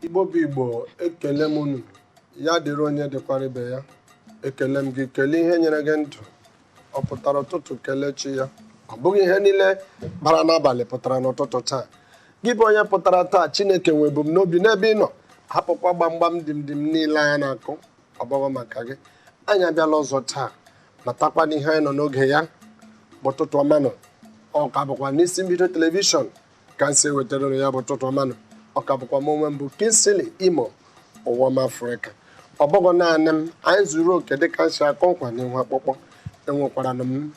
igbo bụ igbo ekele m unu ya dịrị onye dịkwara ibe ya ekele m gị kelee ihe nyere gị ndụ ọ pụtara ụtụtụ kelee chi ya ọ bụghị ihe niile bara n'abalị pụtara n'ụtụtụ taa gị bụ onye pụtara taa chineke nwe ebumnobi n'ebe ị nọ hapụkwa gbamgbam dim dim niile a na-akụ ọ bụghị maka gị anyị abịala ọzọ taa matakwa n'ihe anyị nọ n'oge ya bụ ụtụtụ ọmanụ ọ ka bụkwa n'isi mbido telivishọn ka m si ewetara unu ya bụ ụtụtụ ọmanụ ọ ka bụkwa m onwe m bụ Kingsley Imo ụwa ọma Afrịka ọ bụghị naanị m anyị zuru oke dịka m si akụ nkwa n'ihu akpụkpọ enwekwaranụ m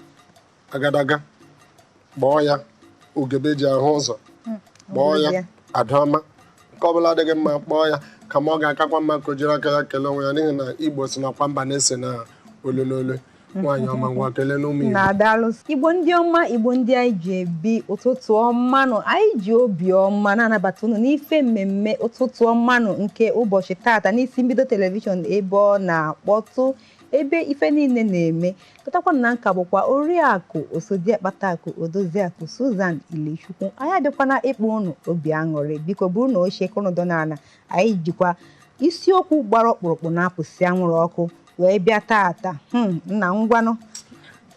agadaga kpọọ ya ugebe ji ahụ ụzọ hmm, kpọọ ya adaọma nke ọbụla adịghị mma kpọọ ya kama ọ ga-akakwa mma ka o jiri aka ya kelee onwe ya n'ihi na igbo sị nakwa mba na-ese n'olu n'olu nwaanyị ọma ngwa keleenụ ụmụ igbo nna daalụ igbo ndị ọma igbo ndị anyị ji ebi ụtụtụ ọmanụ anyị ji obi ọma na-anabata unu n'ife mmemme ụtụtụ ọmanụ nke ụbọchị tata n'isi mbido telivishọn ebe ọ na-akpọtụ ebe ife niile na-eme matakwa na nka bụkwa oriakụ osodiakpatakụ odoziakụ Susan Ilechukwu anyị abịakwana ịkpa ụnụ obi aṅụrị biko burunụ oche ka ụnụ dọ n'ala anyị jikwa isiokwu gbara ọkpụrụkpụ na-apụsị anwụrụ ọkụ wee bịa taata hmm, nna ngwanụ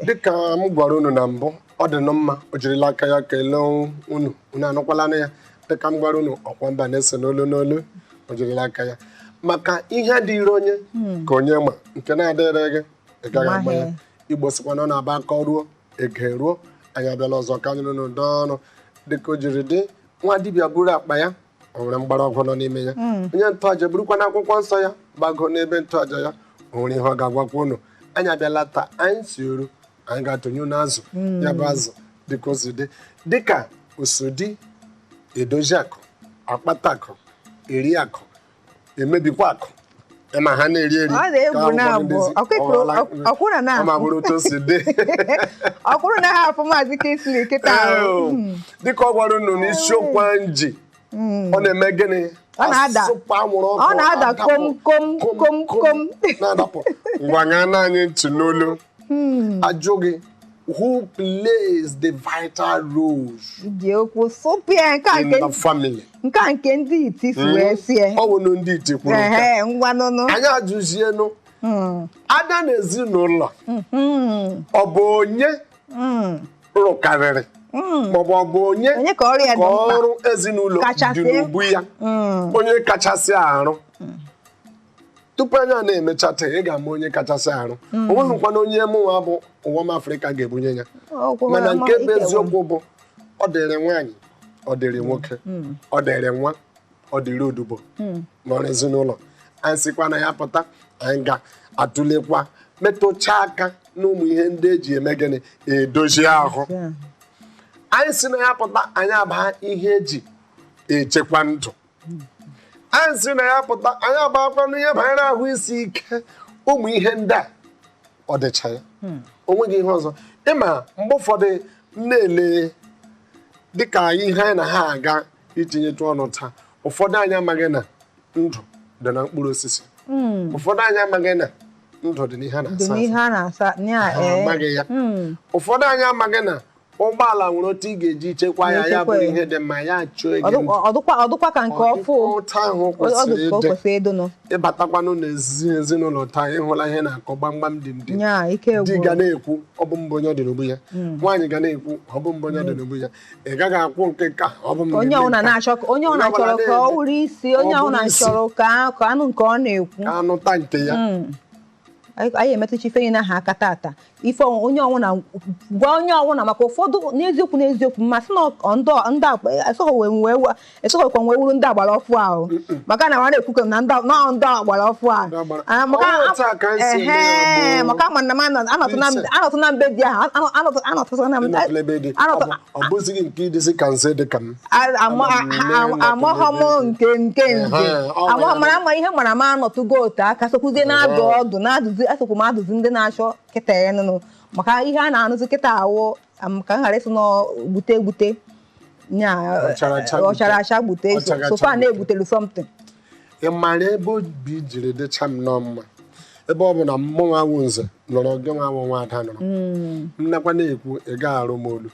dịka m gwara unu na mbụ ọ dị nụ mma o jirila aka ya kelee unu unu anụkwalanụ ya dịka m gwara unu ọkwa mba na-ese n'olu n'olu o jirila aka ya maka ihe dịịrị onye hmm. ka onye ma nke na-adịrị gị ị gaghị ama ya igbo sịkwa na ọ na-abụ a karuo e geruo anyị abịala ọzọ ka anyị na unu dọọ ọnụ dịka o jiri dị nwa dibịa buru akpa ya o nwere mgbọrọgwụ nọ n'ime ya hmm. onye ntọaja burukwanụ akwụkwọ nsọ ya gbago n'ebe ntọaja ya o nwere ihe ọ ga-agwakwa unu anyị abịala taa anyị si oru anyị ga-atụnye unu azụ hmm. ya bụ azụ dịka o si dị dịka osodi edozi akụ akpata akụ eri akụ emebikwa akụ ma ha na-eri eri ọ kwụrụ na ha afọ maazị Kingsley kịta hmm. dịka ọ gwara unu na isiokwu m ji ọ na-eme gịnị Ọ na-ada. asụpụ anwụrụ ọkụ Ọ na-ada adapụ. kom, kom, kom, kom. na-adapụ ngwa ṅaanụ anyị ntị n'olu a jụọ gị who plays the vital roles ji okwu sụpụ ya nke a in nke the family nke a nke ndị iti si wee sie ọ bụ na ndị iti kwuru nke a. ehe ngwa nụnụ anyị ajụzienụ a bịa n'ezinụlọ ọ bụ onye rụkarịrị hmm. maọbụ ọ bụ onye ka ọrụ ezinụlọ dị n'ubu ya hmm. onye kachasị arụ hmm. tupu anyị ana-emecha taa ị ga-ama onye kachasị arụ o nweghịkwanụ onye mụnwa bụ ụwa m afrịka ga-ebunye ya mana nke bụ eziokwu bụ ọ dịrị nwaanyị ọ dịrị nwoke ọ dịrị nwa ọ dịrị odibo hmm. n'ọrụ ezinụlọ anyị sikwa na ya pụta anyị ga-atụlekwa metụcha aka n'ụmụ ihe ndị eji eme gịnị edozi ahụ anyị si na ya pụta anyị abaa ihe eji echekwa ndụ hmm. anyị si na ya pụta anyị abaakwa n'ihe banyere ahụ isi ike ụmụ ihe ndị a ọ dịcha ya hmm. o nweghị ihe ọzọ ị ma mgbe ụfọdụ m na-ele dịka ihe anyị na ha aga itinyetụ ọnụ taa ụfọdụ anyị amaghị na ndụ dị na mkpụrụ osisi hmm. ụfọdụ anyị amaghị na ndụ dị n'ihe a na-asa eh. amaghị ya hmm. ụfọdụ anyị amaghị na ụgbọala nwere otu ị ga-eji chekwa ya ya bụrụ ihe dị mma ya chụọ ego ọ dịkwa ka nke ọfụ otu ahụ kwesịrị ịdị ị batakwanụ na ezinụlọ taa ị hụla ihe na-akụ gbamgbam dimdim di ga na-ekwu ọ bụ m bụ onye ọ dị n'ubu ya hmm. nwaanyị ga na-ekwu ọ bụ m bụ onye ọ dị hmm. n'ubu ya ị gaghị ekwu nke nke ahụ, ọ bụ m onye na-eme ọbụla nke a. na-achọ ka- onye ọbụla Onye ọbụla chọrọ ka ọ na-eme. wụrụ isi onye Ọ ọbụla bụrụ isi. chọrọ ka a- ka a nụ nke ọ na-ekwu ka a nụta nke ya Mm. anyị anyị emetụcha ife niile ahụ aka tata ife ọnwụ- onye ọwụna gwa onye ọwụna maka ụfọdụ n'eziokwu n'eziokwu m asị na ọ- ndị ọ- ndị akpa asọghọ wee wee wa- esokwa wee wụrụ ndị agbara ọfụ ahụ maka na nwa na-ekwukọ na ndị agbara ọfụ ahụ ah, maka a ma na m anọtụ na be di ahụ anọtụsana m amaghọ m nke nke nze amaghọ mara ama ihe mara m anọtụgo otu aka sokwuzie na-adụ ọdụ na-adụzi asokwu m adụzi ndị na-achọ kịta ya nụnụ maka ihe a na-anụzi kịta awụ ka m ghara ịsị na gbute egbute nya Ọchara acha eh, ọchara acha gbute Ọchara acha so fa gbute. na-egbutelu something ị mara ebe obi jiri dịcha m nnọọ mma ebe ọ bụ na mụ nwa wụ nze nọrọ gị nwa wụ nwa ada nọrọ nnekwa na-ekwu ị gaghị arụ m ọlụ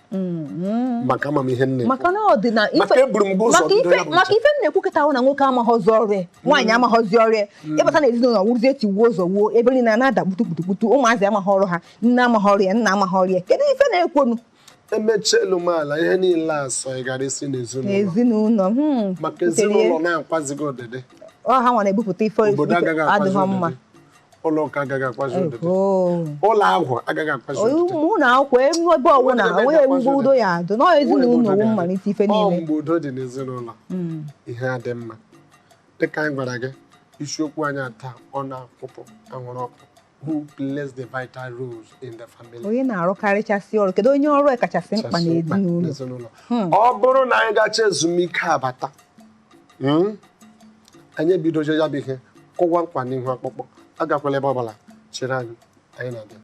maka ama m ihe nne maka na ọ dị na ife- Maka eburu m gị ụzọ maka bido ife- ya bụ maka njem. ife m na-ekwu kịta wụ na nwoke amaghọzi ọrụ ya nwaanyị amaghọzi ọrụ ya ị bata na ezinụlọ wụrụzi tiwuo zọwuo ebe niile a na-ada kputukputukputu ụmụazị amaghị ọrụ ha nne amaghị ọrụ ya nna amaghị ọrụ ya kedu ife na-ekwonu emecha elu ma ala ihe niile asọ ị gara isi n'ezinụlọ n'ezinụlọ hmm. maka ezinụlọ na-akwazighị ọdịdị ọ ha nwa na-ebupụta ife obodo agaghị akwazi adịghị mma ọdịdị ụlọ ụka agaghị akwazi ọdịdị Oh. ụlọ ọgwụ agaghị akwazi ọdịdị ụlọ akwụkwọ ebe ebe ọbụla Onwere ebe onye ga-akwazi mgbe udo ya adị na ezinụlọ Onwere ebe ọ wụ ọ mmalite ife ga-adị. Ọ niile mgbe udo dị n'ezinụlọ Mm. ihe adị mma dịka anyị gwara gị isiokwu anyị taa ọ na-akwụpụ anwụrụ ọkụ who plays the vital roles in the family. onye na-arụkarịchasị ọrụ kedu onye ọrụ kachasị mkpa n'ezinụlọ hmm. ọ bụrụ na anyị gacha ezumike abata hmm, anyị ebidozie ya bụ ihe kụwa nkwa n'ihu akpụkpọ agakwala ebe ọ bụla chere anyị anyị na-abịa